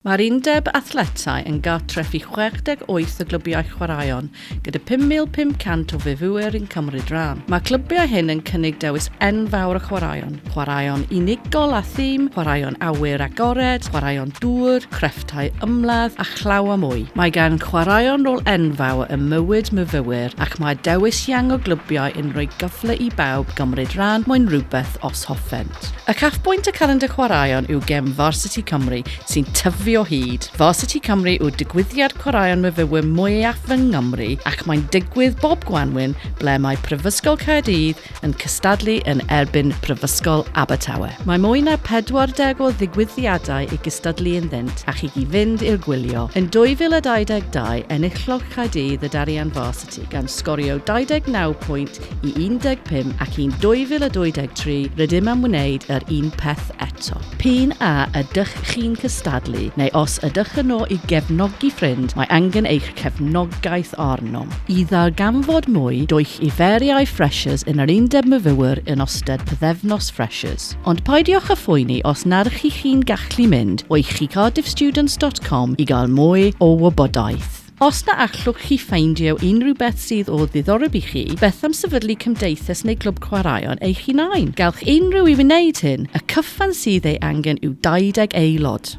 Mae'r Undeb Athletau yn gartref i 68 o glybiau chwaraeon, gyda 5,500 o fyfyrwyr yn cymryd rhan. Mae'r clybiau hyn yn cynnig dewis enfawr o chwaraeon, chwaraeon unigol a thîm, chwaraeon awyr agored, chwaraeon dŵr, crefftau ymladd, a llawer mwy. Mae gan chwaraeon rôl enfawr ym mywyd myfyrwyr ac mae dewis iang o glybiau yn rhoi cyfle i bawb gymryd rhan, moyn rhywbeth os hoffen. Cymreictod. Y cafbwynt y Calendr Chwaraeon yw gem Varsity Cymru sy'n tyfu o hyd. Varsity Cymru yw digwyddiad chwaraeon myfyrwyr mwyaf yng Nghymru ac mae'n digwydd bob gwanwyn ble mae Prifysgol Caerdydd yn cystadlu yn erbyn Prifysgol Abertawe. Mae mwy na 40 o ddigwyddiadau i gystadlu ynddynt ac i chi fynd i'r gwylio. Yn 2022 enillodd Caerdydd y Darian Varsity. Cymru, gan sgorio 29 pwynt i 15 ac yn 2023 rydym am wneud yr un peth eto. P'un a ydych chi'n cystadlu neu os ydych yno i gefnogi ffrind, mae angen eich cefnogaeth arnom. I ddarganfod mwy, dowch i feriau Freshers yn yr Undeb Myfywyr yn ystod pythefnos Freshers. Ond peidiwch â phoeni os nad ych chi'n gallu mynd o i chi cardiffstudents dot com i gael mwy o wybodaeth. Os na allwch chi ffeindio unrhyw beth sydd o ddiddoreb i chi, beth am sefydlu cymdeithas neu glwb chwaraeon eich hunain? Gallwch unrhyw un wneud hyn, y cyfan sydd ei angen yw 20 aelod.